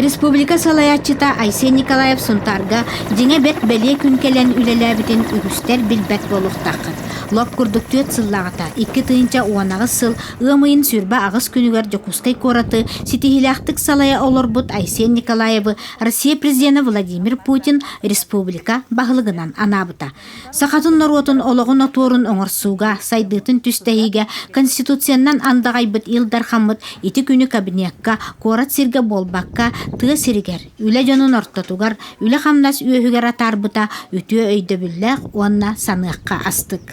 Республика салайааччыта Айсен Николаев Сунтаарга дьиҥэ бэрт бэлиэ күн кэлэн үлэлээбитин үгүстэр билбэт буолуохтааххыт. Лоп курдук түөрт сыллааҕыта икки тыһыынча уон аҕыс сыл ыам ыйын сүүрбэ аҕыс күнүгэр Дьокуускай куораты ситиһиилээхтик салайа олорбут Айсен Николаевы Россия президенэ Владимир Путин республика баһылыгынан анаабыта. Сахатын норуотун олоҕун отуорун оҥорсууга, сайдыытын түстэһиигэ Конституциянан андаҕайбыт Ил Дархаммыт ити күнү кабинекка, куорат сиргэ буолбакка, тыа сиригэр, үлэ дьонун ортотугар, үлэ-хамнас үөһүгэр атаарбыта үтүө өйдөбүллээх уонна саныахха астык.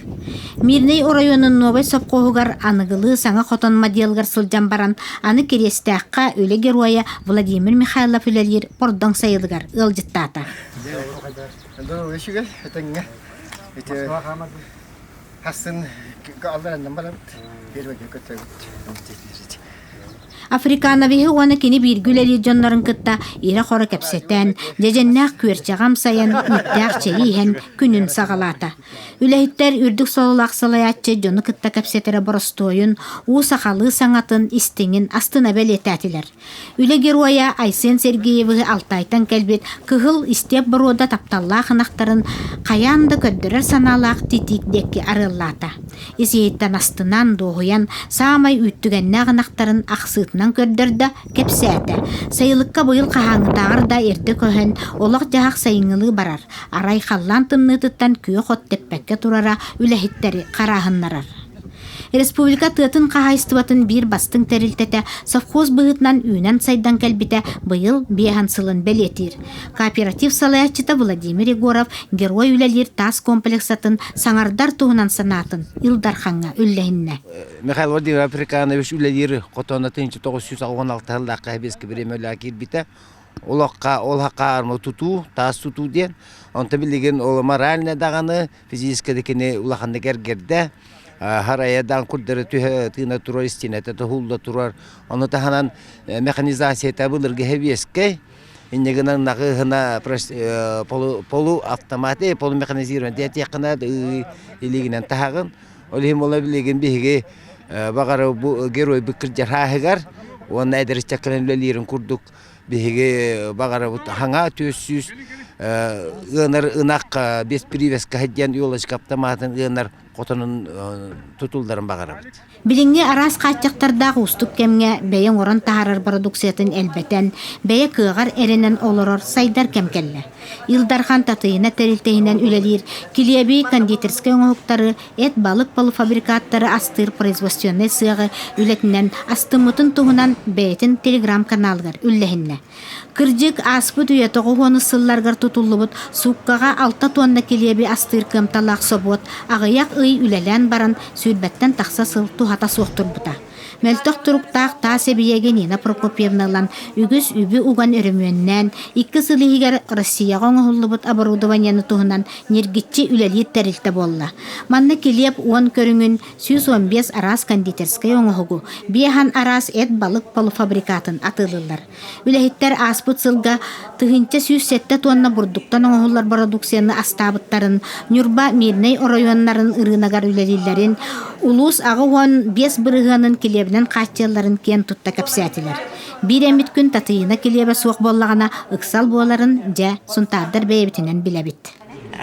Мирнэй оройуонун Новай сопхуоһугар аныгылыы саҥа хотон модельгар сылдьан баран, аны Кириэстээххэ үлэ геройа Владимир Михайлов үлэлиир Пордоҥ сайылыгар ыалдьыттаата. Доо, үчүгэй, этэҥҥэ. Ити хассын аллараннан барабыт, первыйга көтөбүт. Африкановиһы уонна кини бииргэ үлэлиир дьоннорун кытта ирэ-хоро кэпсэтэн, дьэдьэннээх күөрчэҕи амсайан, үүттээх чэйи иһэн күнүн саҕалаата. Үлэһиттэр үрдүк сололоох салайааччы дьону кытта кэпсэтэрэ боростуойун, уу сахалыы саҥатын, истиҥин астына бэлиэтээтилэр. Үлэ геройа Айсен Сергеевы Алтайтан кэлбит кыһыл истиэп боруода тапталлаах ынахтарын хайаан да көрдөрөр санаалаах титик диэки арыаллаата. ис-иһиттэн астынан, дуоһуйан, саамай үүттүгэннээх ынахтарын ахсыытынан көрдөрдө, кэпсээтэ. Сайылыкка быйыл хаһааҥҥытааҕар да эрдэ көһөн, олох-дьаһах сайыҥҥылыы барар, арай халлаан тымныытыттан күөх от тэппэккэ турара үлэһиттэри харааһыннарар. Республика тыатын хаһаайыстыбатын биир бастыҥ тэрилтэтэ совхоз быһыытынан үүнэн-сайдан кэлбитэ быйыл биэһин сылын бэлиэтиир. Кооператив салайааччыта Владимир Егоров Герой үлэлиир таас комплексатын саҥардар туһунан санаатын Ил Дархаҥҥа үллэһиннэ. Михаил Владимир Африканович үлэлиир хотонатын 1996 ыллаахха хэбиэски бириэмэлээх киирбитэ. Олохха олохха арма тутуу, таас тутуу диэн. Онто билигин ол моральны даҕаны, физически дикини улаханнык эргерде. харайадан курдары түһэ тыына турар истинэтэ туһулла турар. Ону таһынан механизацията былыргы хэбиэскэй Инньэ гынан нахыыһына полуавтомат, полумеханизирован диэтиэххинэ илиигинэн таһаҕын. Ол иһин буола билигин биһиги баҕар бу геройбут кырдьархааһыгар уонна эдэриччэккинэн үлэлиирин курдук биһиги баҕарабыт хаҥа түөс сүүс ыанар ынах без привязка диэн елочка аптамаатын ыанар хотонун тутулларын баҕарабыт. Билиҥҥи араас хааччахтардаах уустук кэмҥэ бэйэ оҥорон таһаарар бородууксуйатын элбэтэн, бэйэ кыаҕар эрэнэн олорор сайдар кэм кэллэ. Ил Дархан татыйына тэрилтэһинэн үлэлиир килиэби кондитерскай оҥоһуктары, эт балык полуфабрикаттары астыыр производственнай сыаҕы үлэтинэн астыммытын туһунан бэйэтин телеграм-каналыгар үллэһиннэ. Кырдьык, ааспыт үйэ-тоҕус уонус сылларыгар тутуллубут сууккаҕа алта туонна килиэби астыыр кыамталаах собуот аҕыйах ый үлэлээн баран, сүүрбэттэн тахса сыл туһата суох турбута. Мөлтөх туруктаах таас эбийиэги Нина Прокопьевна ылан, үгүс үбү уган өрөмүөннээн, икки сыл иһигэр Россияҕа оҥоһуллубут оборудованиены туһунан ньиргиччи үлэлиир тэрилтэ буолла. Манна килиэп уон көрүҥүн, сүүс уон биэс араас кондитерскай оҥоһугу, биэһэн араас эт-балык полуфабрикатын атыылыыллар. Үлэһиттэр ааспыт сылга тыһыынча сүүс сэттэ туонна бурдуктан оҥоһуллар бородукцияны астаабыттарын, Ньурба Мирнэй оройуоннарын ырыынагар үлэлииллэрин, улуус аҕа уон биэс бырыһыанын килиэбинэн хааччыйалларын киэн тутта кэпсээтилэр. Биир эммит күн Татыйына килиэбэ суох буоллаҕына ыксал буоларын дьэ Сунтаардар бэйэбитинэн билэбит.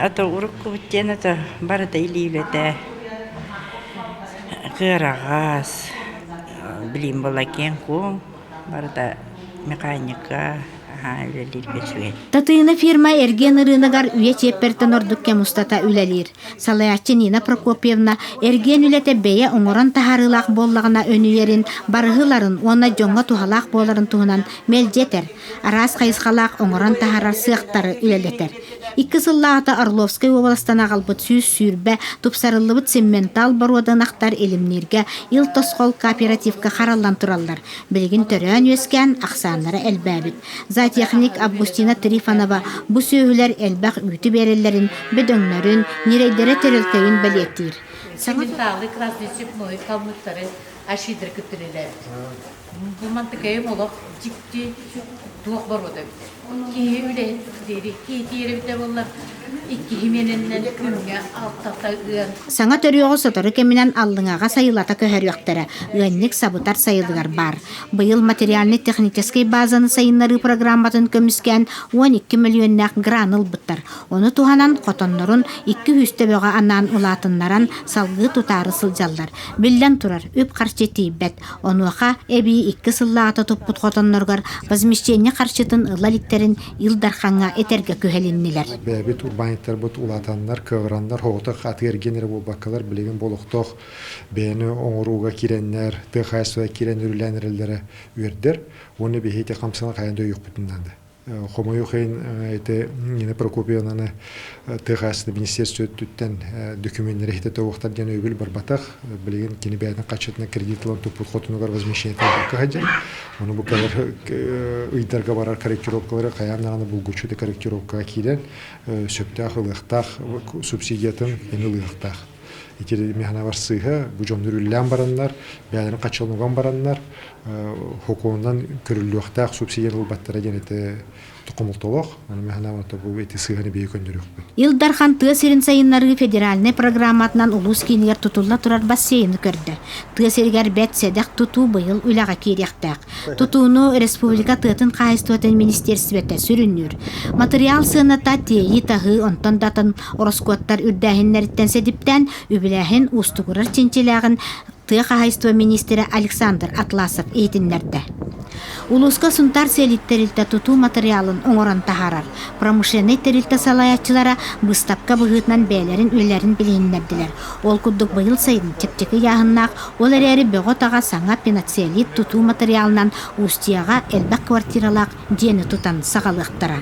Ата уруккубут диэн ата барыта илиилэтэ, кыараҕас, билим буолла киэҥ-куоҥ, барыта механика, аһаа үлэлииргэ үчүгэй. Татыына фирма эргиэн ырыынагар үйэ чиэппэртэн ордук кэм устата үлэлиир. Салайааччы Нина Прокопьевна эргиэн үлэтэ бэйэ оҥорон таһаарыылаах буоллаҕына өнүйэрин, барыһыларын уонна дьоҥҥо туһалаах буоларын туһунан мэлдьи этэр. араас хайысхалаах оҥорон таһаарар сыахтары үлэлэтэр. Икки сыллааҕыта Орловскай уобаластан аҕалбыт сүүс сүүрбэ тупсарыллыбыт симментал боруодунахтар илимнииргэ ил тосхол кооперативка хараллан тураллар. Билигин төрөөн-үөскээн ахсааннара элбээбит. Зоотехник Августина Трифонова бу сүөһүлэр элбэх үүтү биэрэллэрин, бөдөҥнөрүн, ньирэйдэрэ тэрилтэйин бэлиэтиир. Симменталый класс диэчик мой калмыктары ашидры кыттырилэр. Бу мантыкайым олох дьикти туох боруода эбитэ. Киһи үлэһит диэри иитиэр эбитэ буоллар, иккиһи миэнэннэн күҥҥэ алтата ыан. Саҥа төрүөҕү сотору кэминэн Аллыҥаҕа сайылата көһөрүөхтэрэ. Ыанньык сабытар сайылыгар баар. Быйыл материальнай-техническэй базаны сайыннарыы программатын көмүскээн уон икки мөлүйүөннээх грант ылбыттар. Ону туһанан хотоннорун икки-үһүс төбөҕө анаан улаатыннаран салгыы тутаары сылдьаллар. Биллэн турар, үп-харчы тиийбэт. Онуоха эбии икки сыллааҕыта туппут хотонноругар возмещение харчытын ылла иликтэрин Ил Дархаҥҥа этэргэ күһэлиннилэр. Бэйэбит урбаанньыттарбыт улаатаннар, кыаҕыраннар, оҕотох атыгар гиэн эрэ буолбаккалар, билигин бу олохтоох бэйэни оҥорууга киирэннэр, тыа хаһаайыстыба киирэн үрүлээн эрэллэрэ үөрдэр уонна биһиги ити хамсанан хайан да өйүөхпүтүн наада. Хомойуох иһин ити Нина Прокопьевнаны тыа хаһаайыстыба министерство өттүттэн документнары хитэтэ уохтар диэн өйөбүл барбатах. Билигин кини бэйэтин хааччытынан кредит ылан туппут хотунугар возмещениетын булка сылдьар. Ону бу кэлэр ыйдарга барар корректировкалары хайаан даҕаны булгуччу корректировкаҕа киирэн сөптөөх ылыахтаах субсидиятын ини ылыахтаах. Ити механабар сыыһа бу дьон үрүллээн бараннар, бэйэлэрин хачылынуган бараннар, хокуонунан көрүллүөхтээх субсидия ылбаттара диэн ити хомолтолоох. Аны механабарта бу эти сыыһаны бэйэ көннөрүөхпүт. Ил Дархан тыа сирин сайыннарыы федеральнай программатынан улуус киинигэр тутулла турар бассейны көрдө. Тыа сиригэр бэрт сэдэх тутуу быйыл үлэҕэ киириэхтээх. Тутууну республика тыатын хаһаайыстыбатын министиэрстибэтэ сүрүннүүр. Матырыйаал сыаната тиэйии-таһыы, онтон да атын Ороскуоттар үрдээһиннэриттэн сэдиптээн үбүлээһин уустугурар чинчилээҕин тыа хаһаайыстыба миниистирэ Александр Атласов иһитиннэрдэ. Улууска Сунтаар сэлиит тэрилтэ тутуу матырыйаалын оҥорон таһаарар промышленнай тэрилтэ салайааччылара быыстапка быһыытынан бэйэлэрин үлэлэрин билиһиннэрдилэр. Ол курдук быйыл сайын чэпчэки ыйааһыннаах, ол эрээри бөҕө-таҕа саҥа пеноцеллит тутуу матырыйаалынан Устьеҕа элбэх квартиралаах дьиэни тутан саҕалыахтара.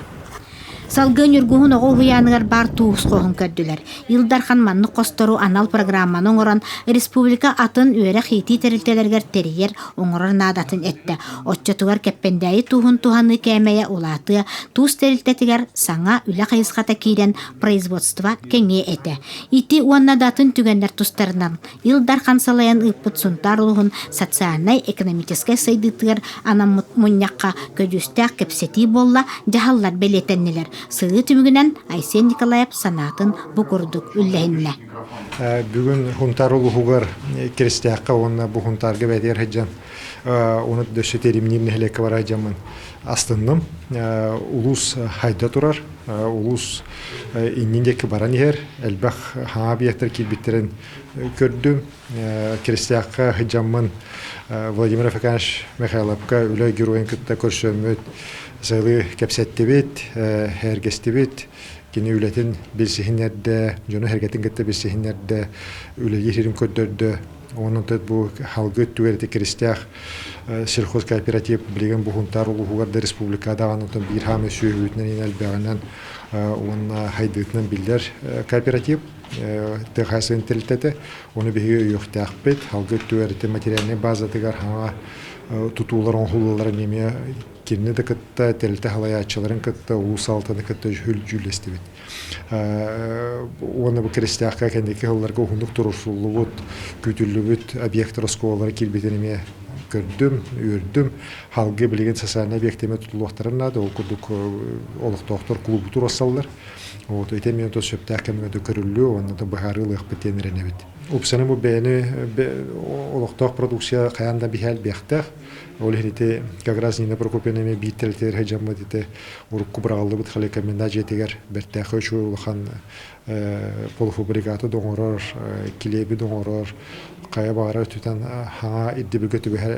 Салгыы Ньургуһун оҕо уһуйааныгар баар туус-хоһун көрдүлэр. Ил Дархан маннык хостору анал программаны оҥорон, республика атын үөрэх-иитии тэрилтэлэригэр тэрийэр, оҥорор наадатын эттэ. Оччотугар Кэппэндээйи тууһун туһаныы кээмэйэ улаатыа, туус тэрилтэтигэр саҥа үлэ хайысхата киирэн, производство кэҥиэ этэ. Ити уонна да атын түгэннэр тустарынан Ил Дархан салайан ыыппыт Сунтаар улуһун социальнай-экономическай сайдыытыгар анаммыт мунньахха көдьүүстээх кэпсэтии буолла, дьаһаллар бэлиэтэннилэр. Сырыы түмүгүнэн Айсен Николаев санаатын бу курдук үллэһиннэ. Бүгүн Хунтаар улуһугар Киристээххэ уонна бу Хунтаарга бэтигэр сыдьан оны дөссө теримниир нэһилиэкке бара дьамын астынным. Улуус хайда турар, улуус иннин диэки баран иһэр элбэх хаҥа объектар киирбиттэрин көрдүм киристээххэ сыдьаммын Владимир Афеканович Михайловка үлэ геройун кытта көрсөммүт сыылы кэпсэттибит эргэстибит кини үлэтин билсиһиннэрдэ дьону эргэтин кытта билсиһиннэрдэ үлэлии сирин көрдөрдө онон бу халгы өттүгэр ити киристээх сельхозкооператив билигин буһунтаар улууһугар да республика даҕаны биир хаамы сүөһүбүтүнэн элбэҕинэн уонна хайдыытынан биллэр кооператив тыа интелликтэтэ Оны биһиги өйөхтөөхпүт. Алгы түөрті материальнай базатыгар хаҥа тутуулар оҥоһуллаларын эмиэ кинини да кытта тэлте халайааччыларын кытта улуус алтаны кытта хүлдьүүлэстибит. Уонна бу киристээххэ кэнники хылларга уһуннук турусуллубут, күүтүллүбүт объектор оскуолалары кирбитин эмиэ көрдүм, үөрдүм. Халгы билигин социальнай объективе тутулуохтарын наада, ол курдук олохтоохтор клубуту росаллар. Вот, ити эмиэ то сөптөөх кэмҥэ көрүллүө, уонна то быһаарыы ылыахпыт диэн эрэнэбит. Упсаны бу бэйэни олохтоох продукция хайаан да биһээлбиэхтээх. Ол иһин ити как раз Нина Прокопьевна эмиэ биир тэлитигэр сыдьаммыт ити урукку быраҕыллыбыт холекоммена дьиэтигэр бэртээхи үчүгэй улахан полуфабрикаты доҥорор, килиэби доҥорор, хайа баара өттүтэн хаҥа ирдибиргэ түбэһэр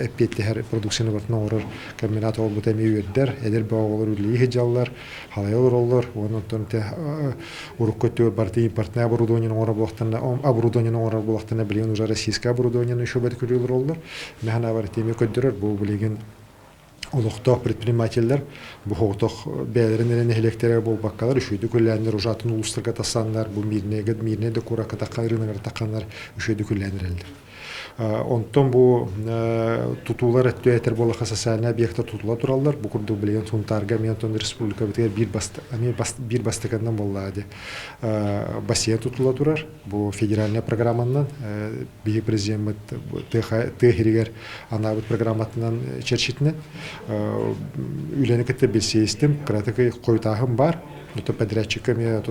эппиэттэһэр продукцияны бартын оҥорор комбинат буолбута эмиэ үөрдэр, эдэр бөҕөҕөлөр үлэлии сыдьаллар, халайа олороллор, уонна оттон те урукку өттүгэр барыта импортнай оборудованиены оҥорор буолахтарына, оборудованиены оҥорор буолахтарына, билигин уже российскай оборудование еще бэркүлүү олороллор. Мэхэнэ бар тиэмэ көрдөрөр, бу билигин олохтоох предпринимателлэр бу соҕотох бэйэлэрин эрэ нэһилиэктэрэ буолбаккалар үчүгэйдик үлэлээннэр ужатын улуустарга тахсаннар бу мирнэйгэ мирнэй да кууракка тахханнар рыногар тахханнар үчүгэйдик үлэлээн эрэллэр онтон бу тутуулар өттө этэр буоллаха социальный объекта тутула тураллар бу курдук билигин сунтаарга мен тон республикабытыгар биир бастаканнан буоллаа де бассейн тутула турар Бу федеральнай программанан биһи президеммит тыа сиригэр анаабыт программатынан чэрчитинэн үлэни кытта билсиэстим, кыратык хойутааһын бар, ото подрядчикка эмиэ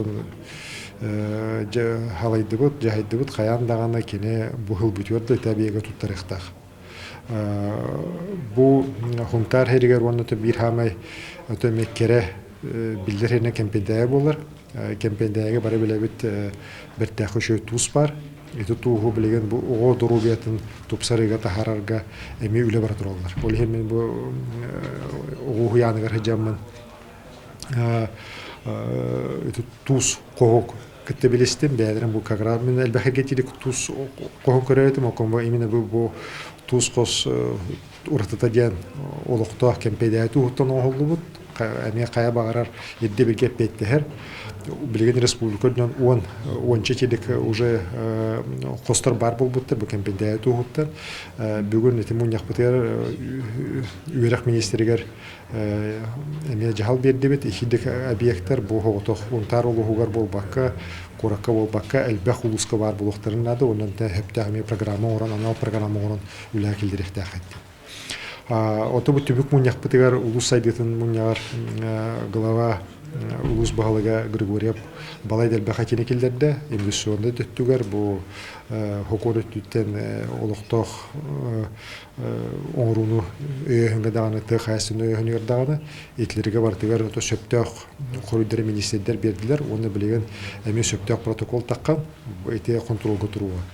халайдыбыт, дьаһайдыбыт хайаан даҕаны кини бу хыл бүтүөр да тэбиэгэ туттарыахтаах. Бу хунтаар сиригэр уонна биир хаамай кэрэ биллэр херне кэмпиндая болар Кэмпиэндээгэ бары билэбит бэртээхи үчүгэй туус баар. Ити тууһу билигин бу оҕо доруобуйатын тупсарыыга таһаарарга эмиэ үлэ бара тураллар. Ол иһин мин бу оҕо уһуйааныгар сыдьаммын ити туус хоһук кытта билистим бэйэлэрин бу кагра мен элбэхэ тилик туус хоһук көрөөтүм окон именно бу тус хос уратыта диэн олохтоох кэмпиэдээти уһуттан оҥоһуллубут эмиэ хайа баҕарар ирдэбилгэ эппиэттэһэр билигин республика үрдүнэн уон уонча тиэлик уже хостор баар буолбуттар бу кэмпиэдээти уһуттан бүгүн ити мунньахпытыгар үөрэх министригэр эмиэ дьаһал биэрдибит иккидик объектар бу оҕотох унтаар улууһугар буолбакка куоракка буолбакка элбэх улууска баар буолуохтарын наада онон эһэптээх эмиэ программа оҥорон анал программа оҥорон үлэ киллэриэхтээх эттим. Отубу түбүк мунньахпытыгар улус сайдытын мунньаҕар глава улус баһылыга Григорьев балай дэлбэ хатини киллэрдэ. Инвестиционный төттүгэр бу хокор өттүттэн олохтоох оҥорууну өйөһүҥҥэ даҕаны тыа хаайсын өйөһүнүгэр даҕаны итилерге барытыгар ото сөптөөх хоруйдары министрдэр бердилер уонна билигин эмиэ сөптөөх протокол таққан ити контролга туруга